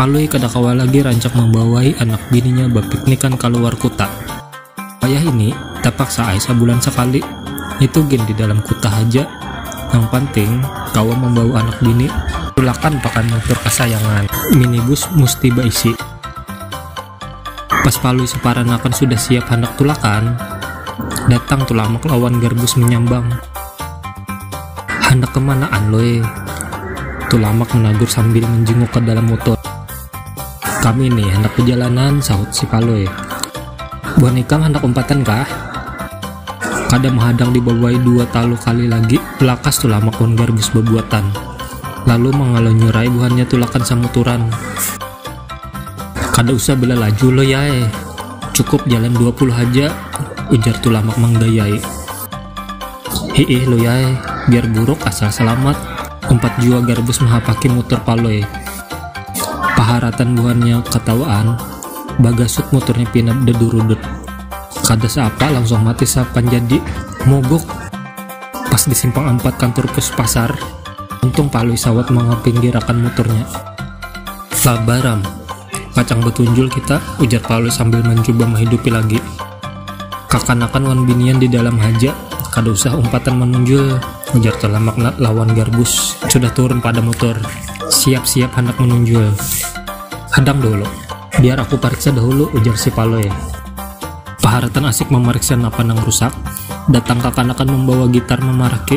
Palui kada kawa lagi rancak mambawai anak bininya bapiknikan kaluar kuta. Wayah ini, tapaksa ai sabulan sakali, nitu gin di dalam kuta haja, nang panting kawa mambawa anak bini. Tulakan pakai mutur kasayangan, minibus musti baisi. Pas Palui saparanakan sudah siap handak tulakan, datang Tulamak lawan Garbus manyambang. Handak kamanaan Loi? Tulamak managur sambil manjinguk ka dalam mutur. Kami ni handak bajalanan, sahut si Palui. Buhan ikam handak umpatan kah? Kada mahadang dibawai dua talu kali lagi, lakas Tulamak wan Garbus babuatan, lalu mangalonyurai buhannya tulakan samuturan. Kada usah bila laju lo yae, cukup jalan dua puluh haja, ujar Tulamak manggayai. Hiih lo yae, biar buruk asal salamat, umpat jua Garbus mahapaki mutur Palui. Paharatan buhannya katawaan, bagasut muturnya pina dadurudut. Kada saapa langsung mati sapanjadi, mogok! Pas di simpang ampat kantur pus pasar, untung Palui sawat mangapinggirakan muturnya. Sabaram, pacang batunjul kita, ujar Paulus sambil mancuba mahidupi lagi. Kakanakan wan binian di dalam haja, kada usah umpatan manunjul, ujar Talamak lawan Garbus sudah turun pada mutur. Siap-siap handak manunjul. Hadang dahulu, biar aku pariksa dahulu, ujar si Palui. Paharatan asik mamariksa napa nang rusak, datang kakanakan mambawa gitar mamaraki.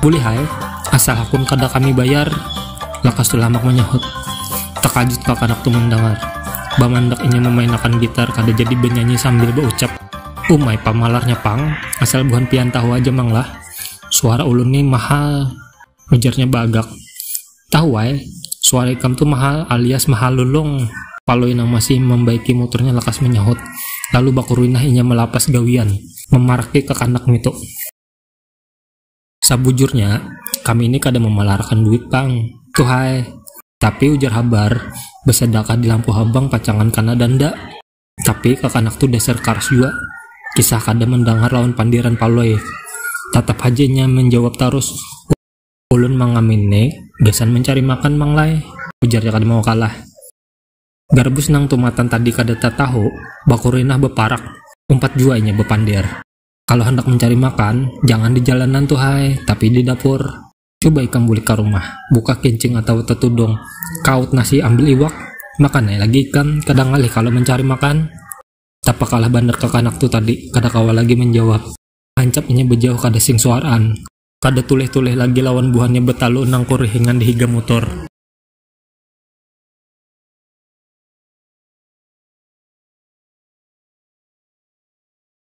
Boleh hai, asal hakun kada kami bayar, lakas Tulamak manyahut. Takajut kakanak tu mandangar, bamandak inya mamainakan gitar kada jadi banyanyi sambil baucap, Umai pamalarnya pang, asal buhan pian tahu aja mang lah, suara ulun ni mahal, ujarnya baagak. Tahu ai, suara ikam tu mahal alias mahal lulung. Palui nang masih mambaiki muturnya lakas manyahut, lalu bakuruinah inya malapas gawian, mamaraki kakanak ngitu. Sabujurnya, kami ini kada mamalarakan duit pang, tuhhai. Tapi ujar habar, basadakah di lampu habang pacangan kana danda. Tapi kakanak tu dasar karas jua, kisah kada mandangar lawan pandiran Palui. Tatap haja inya manjawab tarus, ulun mangamin ni gasan mancari makan mang lai, ujarnya kada mau kalah. Garbus nang tumatan tadi kada tatahu, bakurinah baparak, umpat jua inya bapandir. Kalau hendak mencari makan, jangan di jalanan tuh hai, tapi di dapur. Coba ikam bulik ka rumah, buka kincing atawa tetudung, kaut nasi ambil iwak, makan ai lagi ikam, kada ngalih kalo mencari makan. Tapakalah banar kakanak tuh tadi, kada kawa lagi menjawab. Hancap inya bejauh kada sing suaraan. Kada tulih-tulih lagi lawan buhannya betalu nang kurihingan di higa mutur.